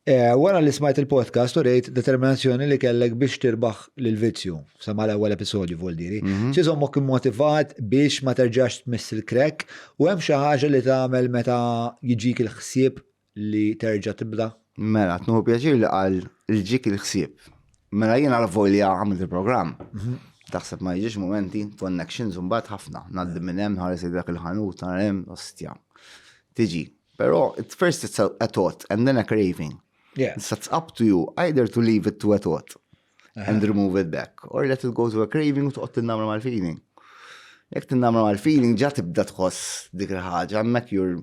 Wara li smajt il-podcast u rejt determinazzjoni li kellek biex tirbaħ lill-vizzju, sa mal-ewwel episodju voldiri, mhm. x'iżommok immotivat biex ma terġax tmiss il-krek u hemm xi ħaġa li tagħmel meta jiġik il-ħsieb li terġa' tibda? Mela, tnuħu pjaċir li qal il-ġik il-ħsieb. Mela jien għal volja għamilt il-programm. Mhm. Taħseb ma jiġix momenti, connections mbagħad ħafna, ngħaddi minn hemm ħares dak il-ħanut, hemm ostja. Tiġi, Pero, at first it's a, a thought and then a craving. Yeah. So it's up to you either to leave it to a thought uh -huh. and uh-huh. remove it back or let it go to a craving u toqgħod tinnamra mal-feeling. Jekk tinnamra mal-feeling ġa tibda tħoss dik il-ħaġa hemmhekk you're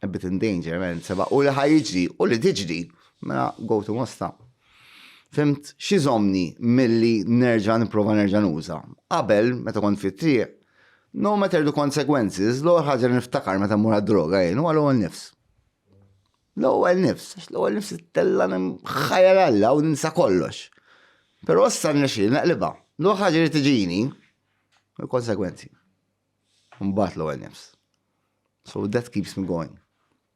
a bit in danger, man, seba' u li ħajġri u li tiġri, mela go to mosta. Fimt, xizomni milli nerġa' nipprova nerġa' nuża. Qabel, meta kont fit-triq, No matter the consequences, l-ewwel ħaġa li niftakar meta mmur għad-droga jien huwa l-ewwel nifs. L-ewwel nifs, għax l-ewwel nifs tella ħajja Alla u ninsa kollox. Però issa nixi naqliba. L-ewwel ħaġa li tiġini il-konsekwenzi. Mbagħad l-ewwel nifs. So that keeps me going.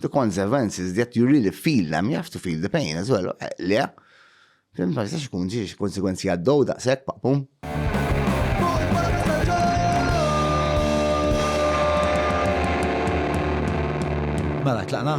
The consequence is that you really feel them, you have to feel the pain as well. Eh, le, fim ma jistax ikun ġiex konsekwenzi għaddow daqshekk paqpum. Mela, tlaqna?